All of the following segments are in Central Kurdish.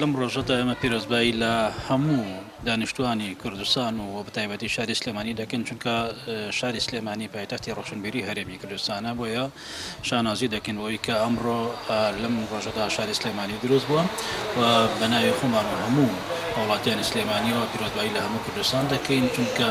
لەم ڕۆژەدا ئێمە پیرۆزبایی لە هەموو دانیشتوانی کوردستان و بە تایبەتی شاری سلێمانی دەکەن چونکە شاری سلێمانی پایتەختی ڕۆشنبیری هەرێمی کوردستانە بۆیە شانازی دەکەن بۆی کە ئەمڕۆ لەم ڕۆژەدا شاری سلێمانی دروست بووە و بەناوی خۆمان و هەموو هاوڵاتیانی سلێمانیەوە پیرۆزبایی لە هەموو کوردستان دەکەین چونکە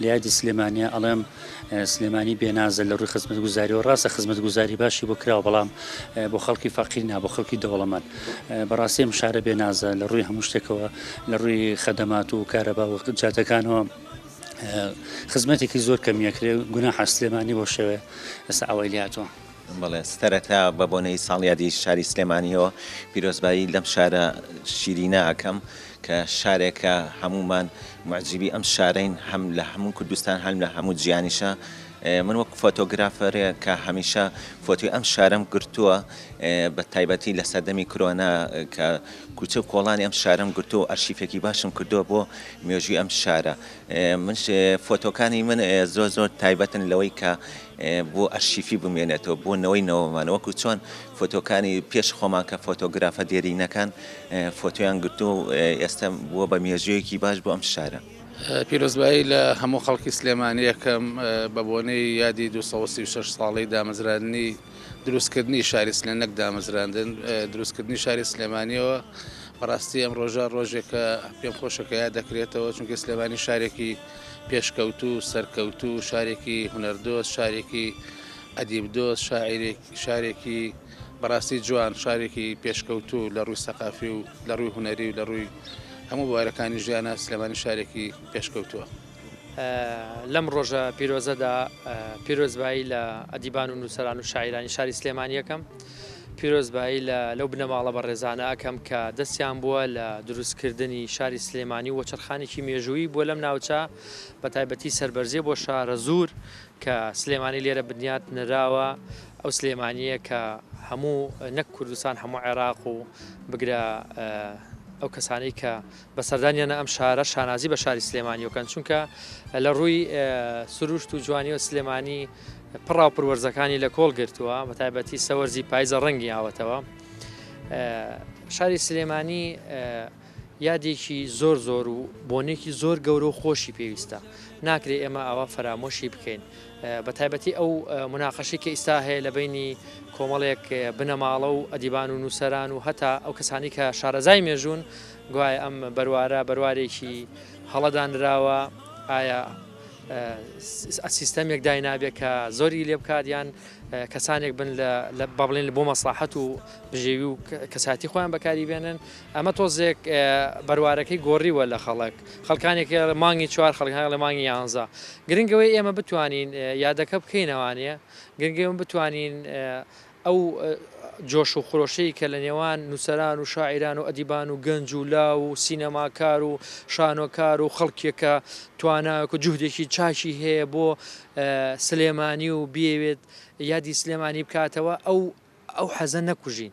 لە یادی سلێمانیە ئەڵێم سلێمانی بێنازە لە ڕووی خزمەت گوزاریەوە ڕاستە خزمەت گوزاری باشی بۆ کراوە بەڵام بۆ خەڵکی فەقیر نا بۆ خەڵکی دەوڵەمەند بەڕاستی ئەم شارە بێنازە لە ڕووی هەموو شتێکەوە لە ڕووی خەدەمات و کارەبا و جاتەکانەوە خزمەتێکی زۆر کەمیەکرێ گونا حەسلێمانی بۆ شەوێ ئێستا ئەوەی لاتوە. بەڵێ سەرەتا بە بۆنەی ساڵیادی شاری سلێمانیەوە پیرۆزبایی لەم شارە شیرینە ئەکەم کە شارێکە هەمومان معجیبی ئەم شارەین هەم لە هەموو کوردستان هەم لە هەموو جیانیشە من وەک فۆتۆگرافەرێ کە هەمیشە فۆتی ئەم شارم گرتووە بە تایبەتی لە سەردەمی کرۆنا کە کوچە و کۆڵانی ئەم شارم گرتو و ئەرشیفێکی باشم کردووە بۆ مێژوی ئەم شارە من فۆتۆکانی من زۆر زۆر تایبەتن لەوەی کە بۆ ئەرشیفی بمێنێتەوە بۆ نەوەی نەوەمان وەکو چۆن فۆتۆکانی پێش خۆمان کە فۆتۆگرافە دێرینەکان فۆتۆیان گرتو و ئێستا بووە بە مێژوویەکی باش بۆ ئەم شارە. پیرۆزبایی لە هەموو خەڵکی سلێمانی ئەکەم بە بۆنەی یادی دوو سەد و سی و شەش ساڵەی دامەزراندنی دروستکردنی شاری سلێ نەک دامەزراندن دروستکردنی شاری سلێمانیەوە بەڕاستی ئەم ڕۆژە ڕۆژێکە پێم خۆشەکە یاد دەکرێتەوە چونکە سلێمانی شارێکی پێشکەوتوو، سەرکەوتوو، شارێکی هونەردۆست، شارێکی ئەدیب دۆست، شاعیرێک، شارێکی بەڕاستی جوان، شارێکی پێشکەوتوو لە ڕووی سەقافی و لە ڕووی هونەری و لە ڕووی هەموو بوارەکانی ژیانە سلێمانی شارێکی پێشکەوتووە. لەم ڕۆژە پیرۆزەدا پیرۆزبایی لە ئەدیبان و نووسەران و شاعیرانی شاری سلێمانی یەکەم. پیرۆزبایی لە لەو بنەماڵە بەڕێزانە ئەکەم کە دەستیان بووە لە دروست کردنی شاری سلێمانی و وەچەرخانێکی مێژوویی بووە لەم ناوچە بە تایبەتی سەربەرزیە بۆ شارەزوور کە سلێمانی لێرە بنیات نراوە ئەو سلێمانیە کە هەموو نەک کوردستان هەموو عێراق و بگرە ئەو کەسانەی کە بە سەردانیانە ئەم شارە شانازی بە شاری سلێمانی وکەن چونکە لە ڕووی سروشت و جوانی و سلێمانی پڕاو پروەرزەکانی لە کۆڵ گرتووە بە تایبەتی سەوەرزی پایزە ڕەنگی ئاوەتەوە شاری سلێمانی یادێکی زۆر زۆر و بۆنێکی زۆر گەورە و خۆشی پێویستە ناکرێ ئێمە ئاوا فەرامۆشی بکەین بە تایبەتی ئەو مناقەشی کە ئیستا هەیە لە بینی کۆمەڵێک بنەماڵە و ئەدیبان و نووسران و هەتا ئەو کەسانی کە شارەزای مێژوون گوایە ئەم بەروارە بەروارێکی هەڵە دانراوە، ئایا سیستەمێک داینابێت کە زۆری لێ بکات یان کەسانێک بن بە بڵێن بۆ مەسلحەت و بژێوی و کەساتی خۆیان بەکاری بێنن ئەمە تۆزێک بەروارەکەی گۆڕیوە لە خەڵک خەڵکانێک مانگی چوار خەڵکان لە مانگی یانزە گرنگەوەی ئێمە بتوانین یادەکە بکەینەوانەیە گرنگێم بتوانین ئەو جۆش و خرۆشەی کە لە نێوان نووسەران و شاعیران و ئەدیبان و گەنج و لاو و سینەماکار و شانۆکار و خەڵکێک کە توانایەک و جوهدێکی چاکی هەیە بۆ سلێمانی و بیەوێت یادی سلێمانی بکاتەوە، ئەو ئەو حەزە نەکوژین.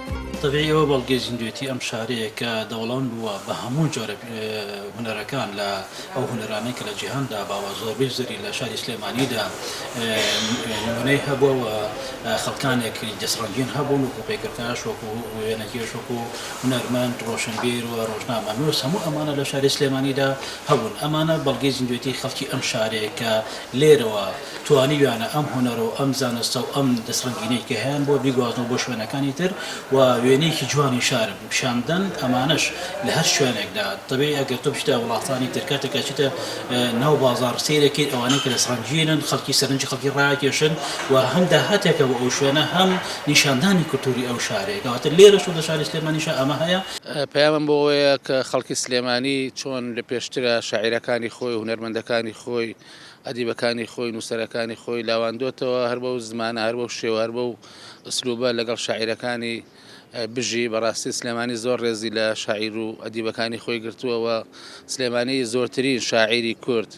تەبیعی ئەوە بەڵگەی زیندوێتی ئەم شارەیە کە دەوڵەمەند بووە بە هەموو جۆرە هونەرەکان لە ئەو هونەرانەی کە لە جیهاندا باوە زۆربەی زەری لە شاری سلێمانیدا نمونەی هەبووە و خەڵکانێک دەسڕەنگین هەبوون وەکو پەیکەرکاش وەکو وێنەکێش وەکو هونەرمەند ڕۆشنبیر و ڕۆژنامەنووس هەموو ئەمانە لە شاری سلێمانیدا هەبوون ئەمانە بەڵگەی زیندوێتی خەڵکی ئەم شارەیە کە لێرەوە توانیویانە ئەم هونەرە و ئەم زانستە و ئەم دەستڕەنگینەی کە هەیانبووە بیگوازنەوە بۆ شوێنەکانی تر و وێنەیەکی جوانی شار پیشان بدەن، ئەمانەش لە هەر شوێنێکدا تەبعی ئەگەر تۆ بچیتە وڵاتانی تر کاتێک کە ئەچیتە ناو بازاڕ سەیری ئەکەیت ئەوانەی کە دەستڕەنگینن خەڵکی سەرنجی خەڵکی ڕائەکێشن و هەم داهاتێکە بۆ ئەو شوێنە هەم نیشاندانی کولتووری ئەو شارەیە کەواتە لێرەش و لە شاری سلێمانیشا ئەمە هەیە. پەیامم بۆ ئەوەیە کە خەڵکی سلێمانی چۆن لە پێشترە شاعیرەکانی خۆی و هونەرمەندەکانی خۆی ئەدیبەکانی خۆی، نووسەرەکانی خۆی لاواندۆتەوە، هەر بەو زمانە، هەر بەو شێوە، هەر بەو ئسلوبە لەگەڵ شاعیرەکانی بژی، بەڕاستی سلێمانی زۆر ڕێزی لە شاعیر و ئەدیبەکانی خۆی گرتووە و سلێمانی زۆرترین شاعیری کورد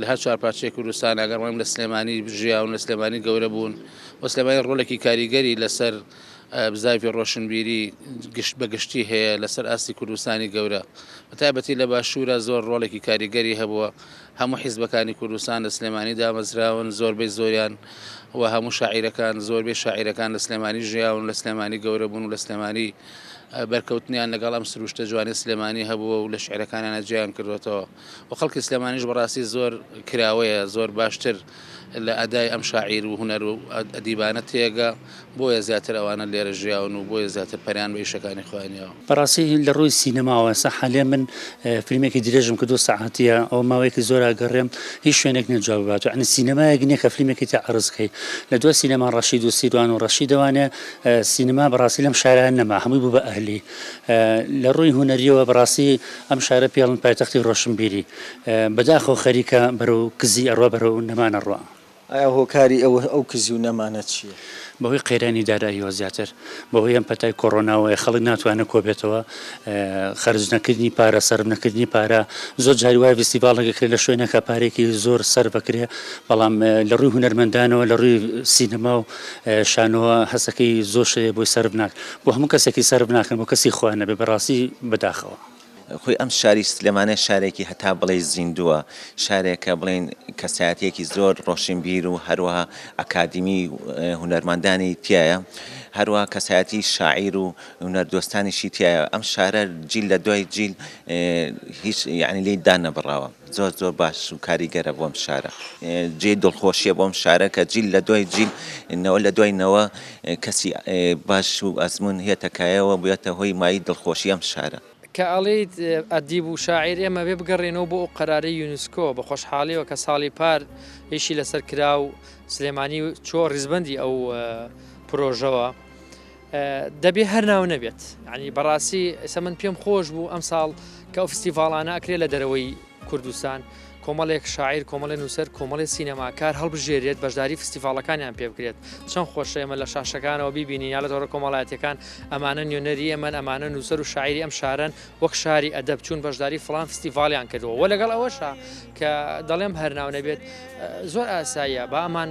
لە هەر چوار پارچەی کوردستان ئەگەر بڵێم لە سلێمانی ژیاون، لە سلێمانی گەورە بوون و سلێمانی ڕۆلێکی کاریگەری لەسەر بزاڤی ڕۆشنبیری گشت بە گشتی هەیە لەسەر ئاستی کوردستانی گەورە بەتایبەتی لە باشوورە زۆر ڕۆڵێکی کاریگەری هەبووە هەموو حیزبەکانی کوردستان لە سلێمانی دامەزراون، زۆربەی زۆریان و هەموو شاعیرەکان، زۆربەی شاعیرەکان لە سلێمانی ژیاون، لە سلێمانی گەورە بوون و لە سلێمانی بەرکەوتنیان لەگەڵ ئەم سرووشتە جوانەی سلێمانی هەبووە و لە شیعرەکانیانە جێیان کردووەتەوە و خەڵکی سلێمانیش بەڕاستی زۆر کراوەیە، زۆر باشتر لە ئەدای ئەم شاعیر و هونەر و ئەدیبانە تێگا، بۆیە زیاتر ئەوانە لێرە ژیاون و بۆیە زیاتر پەرەیان بە ئیشەکانی خۆیان یاوە. بەڕاستی لە ڕووی سینەماوە ئێستا حالیەن من فلیمێکی درێژم کرد دوو سەعاتیە ئەوە ماوەیەکی زۆرە ئەگەڕێم هیچ شوێنێک نیە جواب بات یانی سینەمایەک نیە کە فلیمێکی تیا عەڕز کەی لە دوای سینەما ڕەشید و سیروان و ڕەشیدەوانێ سینەما بەڕاستی لەم شارە نەما هەمووی بوو بە ئەهلی لە ڕووی هونەریەوە بەڕاستی ئەم شارە پێڵن پایتەختی ڕۆشنبیری بەداخەوە خەریکە بەرەو کزی ئەڕوا بەرەو نەمان ئەڕوا. ئایا هۆکاری ئەو ئەو کزی و نەمانە چیە؟ بەهۆی قەیرانی داراییەوە زیاتر بەهۆی ئەم پەتای کۆڕۆناوەیە خەڵک ناتوانێت کۆبێتەوە خەرج نەکردنی پارە سەرف نەکردنی پارە زۆر جاری وایە ڤیستیڤاڵێک ئەکرێت لە شوێنەکە پارێکی زۆر سەرف ئەکرێ بەڵام لە ڕووی هونەرمەندانەوە لە ڕووی سینەما و شانۆوە هەستەکەی زۆر شتێ بۆی سەرف ناکرێ بۆ هەموو کەسێکی سەرف ناکەن بۆ کەسی خوا نەبێ بەڕاستی بەداخەوە. خۆی ئەم شاری سلێمانێ شارێکی هەتا بڵێی زیندووە، شارێکە بڵێین کەسایەتیەکی زۆر ڕۆشنبیر و هەروەها ئەکادیمی و هونەرمەندانی تایە، هەروەها کەسایەتی شاعیر و هونەردۆستانیشی تایە، ئەم شارە جیل لە دوای جیل هیچ یعنی لێی دانەبڕاوە. زۆر زۆر باش و کاریگەرە بۆم شارە. جێی دڵخۆشیە بۆم شارە کە جیل لە دوای جیل نەوە لە دوای نەوە کەسی باش و ئەزموون هێتە کایەوە بوێتە هۆی مایی دڵخۆشی ئەم شارە. کە ئەڵێیت ئەدیب و شاعیر ئێمە بێ بگەڕێنەوە بۆ ئەو قەرارەی یونسکۆ بە خۆشحاڵیەوە کە ساڵی پار ئیشی لەسەر کرا و سلێمانی چوە ڕیزبەندی ئەو پرۆژەوە. دەبێ هەر ناو نەبێت ینی بەڕاستی ئێستا من پێم خۆش بوو ئەم ساڵ کە ئەو فستیڤاڵانە ئەکرێت لە دەرەوەی کوردستان کۆمەڵێک شاعیر کۆمەڵێ نووسەر کۆمەڵی سینەماکار هەڵبژێرێت بەشداری فستیڤالەکانیان پێ بکرێت چەند خۆشە ئێمە لە شاشەکانەوە ببینین یا لە تۆڕە کۆمەڵاتەکان ئەمانە نوێنەری ئەمەن ئەمانە نووسەر و شاعری ئەم شارن وەک شاری ئەدەب چوون بەشداری فلان فستیڤالیان کردەوە وە لەگەڵ ئەوەشە کە دەڵێم هەرناو نەبێت زۆر ئاساییە بامان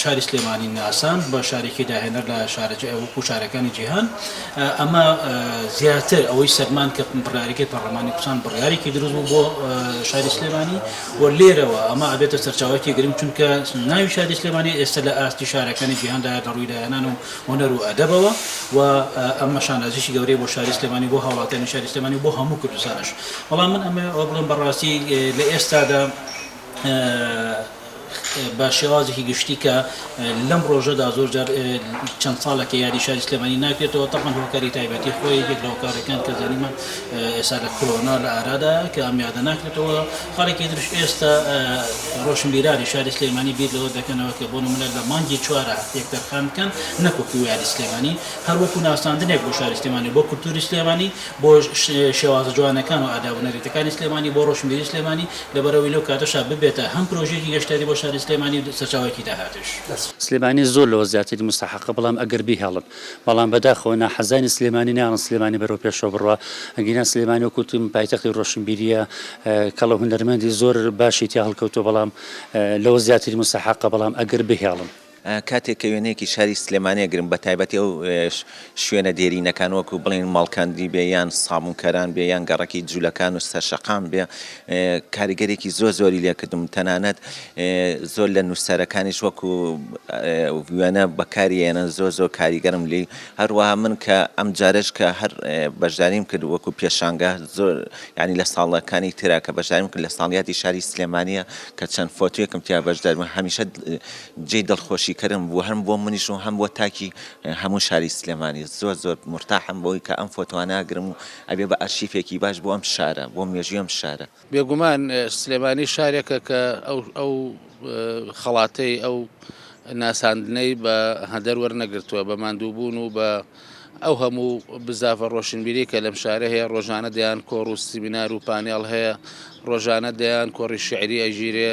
شاری سلێمانی ناساند بە شارێکی داهێنەر لە وەکو شارەکانی جیهان ئەمە زیاتر ئەوەی سەلماند کە بڕیارەکەی پەرلەمانی کوردستان بڕیارێکی دروست بوو بۆ شاری سلێمانی و لێرەوە ئەمە ئەبێتە سەرچاوەکی گرنگ چونکە ناوی شاری سلێمانی ئێستا لە ئاستی شارەکانی جیهاندا لە ڕووی داهێنان و هونەر و ئەدەبەوە و ئەمە شانازیی گەورەی بۆ شاری سلێمانی بۆ هاوڵاتیانی شاری سلێمانی بۆ هەموو کوردستانیش بەڵام من ئەمەوێ ئەوە بڵێم بەڕاستی لە ئێستادا بە شێوازێکی گشتی کە لەم ڕۆژەدا زۆر جار چەند ساڵێکە یادی شاری سلێمانی ناکرێتەوە تەبەن هۆکاری تایبەتی خۆی یەکێک لە هۆکارەکان کە زانیمان ئێستا لە کرۆنا لە ئارادا کە ئەم یادە ناکرێتەوە خاڵێکی درش ئێستا ڕۆشنبیرانی شاری سلێمانی بیر لەوە دەکەنەوە کە بۆ نمونە لە مانگی چوارە هەفتەیەک تەرخان بکەن نەکوەکو یادی سلێمانی هەر وەکو ناساندنێک بۆ شاری سلێمانی بۆ کولتوری سلێمانی بۆ شێوازە جوانەکان و ئاداب و نەریتەکانی سلێمانی بۆ ڕۆشنبیری سلێمانی لەبەرئەوەی لەو کاتەشا ببێتە هەم پرۆژەیەکی گەشتیاری بۆ شاری سلێمانی و سەرچاوەیەکی داهاتش. سلێمانی زۆر لەوە زیاتری موستەحەقە بەڵام ئەگەر بیهێڵن بەڵام بەداخەوە ناحەزانی سلێمانی نایەڵن سلێمانی بەرەو پێشەوە بڕوا ئەگینا سلێمانی وەکو وتم پایتەختی ڕۆشنبیریە کەڵە هونەرمەندی زۆر باشی تیا هەڵکەوتوە بەڵام لەوە زیاتری موستەحەقە بەڵام ئەگەر بهێڵن. کاتێک کە وێنەیەکی شاری سلێمانی ئەگرم بە تایبەتی ئەو شوێنە دێرینەکان وەکو بڵێن ماڵکاندی بێ یان سابونکەران بێ یان گەڕەکی جوولەکان و سەرشەقام بێ کاریگەرێکی زۆر زۆری لێکردم تەنانەت زۆر لە نووسەرەکانیش وەکو وێنە بەکاری ئێنە زۆر زۆر کاریگەرم لی هەروەها من کە ئەم جارش کە هەر بەشداریم کرد وەکو پێشانگە زۆر ینی لە ساڵەکانی ترا کە بەشداریم کرد لە ساڵیاتی شاری سلێمانە کە چەند فۆتوێکم تیا بەشدارمە هەمیشە جێی دڵخۆشی کەرم بوو هەم بۆ منیش و هەم بۆ تاکی هەموو شاری سلێمانی زۆر زۆر مورتاحم بەوەی کە ئەم فۆتۆانە ئەگرم و ئەبێ بە ئەرشیفێکی باش بۆ ئەم شارە بۆ مێژووی ئەم شارە. بێگومان سلێمانی شارێکە کە ئەو خەڵاتەی ئەو ناساندنەی بە هەدەر وەرنەگرتووە بە ماندووبوون و بە ئەو هەموو بزاڤە ڕۆشنبیرەی کە لەم شارە هەیە، ڕۆژانە دەیان کۆڕ و سیمینار و پانێڵ هەیە، ڕۆژانە دەیان کۆڕی شیعری ئەگیرێ.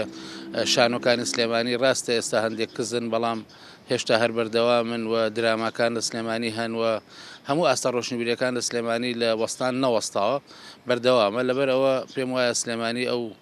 شانۆکانی سلێمانی ڕاستە ئێستا هەندێک کزن، بەڵام هێشتا هەر بەردەوامن و دراماکان لە سلێمانی هەن و هەموو ئاستە ڕۆشنبیرەکان لە سلێمانی لە وەستان نەوەستاوە، بەردەوامە. لەبەر ئەوە پێم وایە سلێمانی ئەو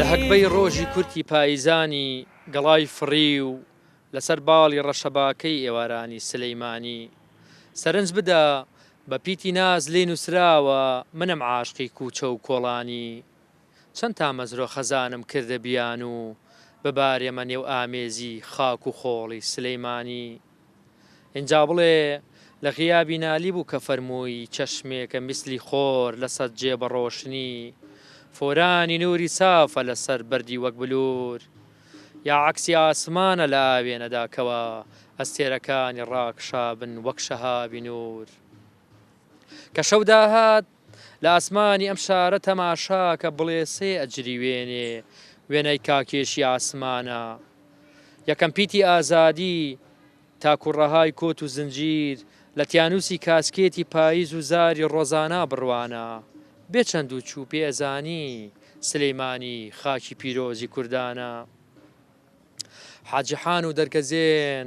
لە هەگبەی ڕۆژی کورتی پاییزانی گەڵای فڕیو لەسەر باڵی ڕەشەباکەی ئێوارانی سلیمانی سەرنج بدە بە پیتی ناز لێی نووسراوە منم عاشقی کووچە و کۆڵانی چەند تامەزرۆ خەزانم کردە بیانوو ببارێمە نێو ئامێزی خاک و خۆڵی سلیمانی. ئینجا بڵێ، لە غیابی نالی بوو کە فەرمووی، چەشمێکە میسلی خۆر لە سەد جێ بە ڕۆشنی، فورانی نووری سافە لە سەر بەردی وەک بلوور، یا عەکسی ئاسمانە لە ئاوێنەدا کەوا ئەستێرەکانی ڕاکشابن وەک شەهابی نوور. کە شەو داهات، لە ئاسمانی ئەم شارە تەماشا کە بڵێسەی ئەجریوێنێ وێنای کاکێشی ئاسمانە یەکەم پیتی ئازادی تاکو ڕەهای کۆت و زنجیر لە تیانوسی کاسکێتی پاییز و زاری ڕۆزانا بڕوانە بێ چەند و چوو پێ ئەزانی سلیمانی خاکی پیرۆزی کوردانە حاجی حان و دەرکەزێن.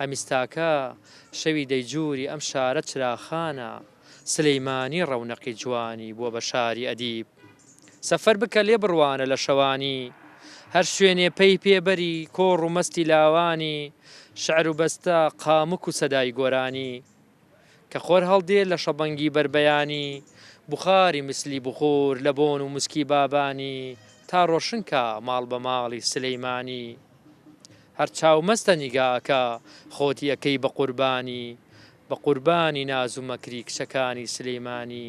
ئەمیستاکە شەوی دەیجووری ئەم شارە چراخانە سلیمانی ڕەونەقی جوانی بووە بە شاری ئەدیب سەفەر بکە لێ بڕوانە لە شەوانی هەر شوێنێ پەی پێ بەری کۆڕ و مەستی لاوانی شعر و بەستە قامک و سەدای گۆرانی کە خۆر هەڵدێ لە شەبەنگی بەربەیانی، بوخاری میسلی بخور لە بۆن و موسکی بابانی، تا ڕۆشن کا ماڵ بە ماڵی سلیمانی. هەر چاو مەستە نیگا ئەکا، خۆتی ئەکەی بە قوربانی، بە قوربانی ناز و مەکری کچەکانی سلیمانی.